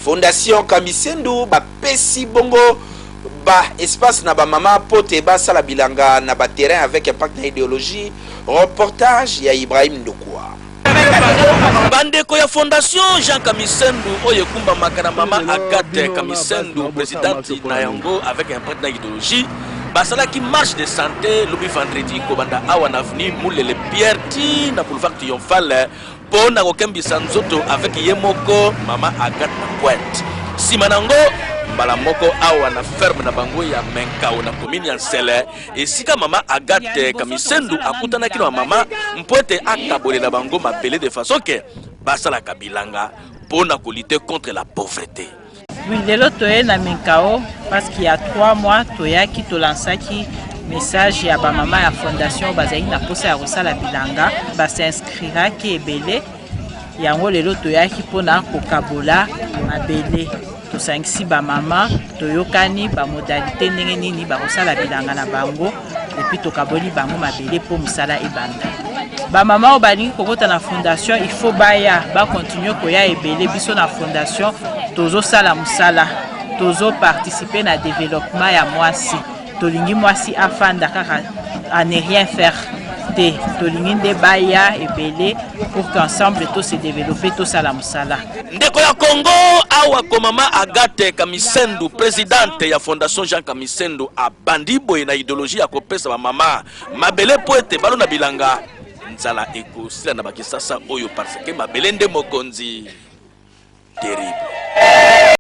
Fondation Kamisendu ba pesi bongo ba espace na ba mama po te ba sala bilanga na ba terrain avec impact na ideologie, reportage ya Ibrahim Ndukua. Bandeko ya Fondation Jean Kamisendu oyo ekumbamaka na mama Agathe Kamisendu, presidente na yango avec impact na ideologie, basalaki marche de sante lobi vendredi kobanda awa na avenue Mulele Pierre ti na boulevard Triomphale. mpo na kokembisa nzoto avec ye moko mama Agathe na Pointe. Nsima na yango mbala moko awa na ferme na bango ya Menkao na komini ya Nsele, esika mama Agathe Kamisendu akutanaki na mama mpo ete akabolela bango mabele de façon que basalaka bilanga mpo na kolite contre la pauvrete. Oui, lelo toye na Minkao parce qu'il y a 3 mois toyaki tolansaki message ya ba mama ya fondation bazali na posa ya kosala bilanga ba s'inscriraki ebele yango lelo toyaki mpona kokabola mabele tosangisi bamama toyokani bamodalite ndenge nini bakosala bilanga na bango epuis tokaboli bango mabele mpo mosala ebanda bamama oyo balingi kokota na fondation il faut baya bakontinue koya ebele biso na fondation tozosala mosala tozoparticipe na developpement ya mwasi tolingi mwasi afanda kaka à ne rien faire te tolingi nde baya ebele pour qu'ensemble tose développer tosala mosala ndeko ya congo awa komama agate kamisendu presidente ya fondation jean kamis Sendou abandi boye na ideologie ya kopesa ba mama mabele mpo ete balona bilanga nzala ekosila na bakisasa oyo parce que mabele nde mokonzi terrible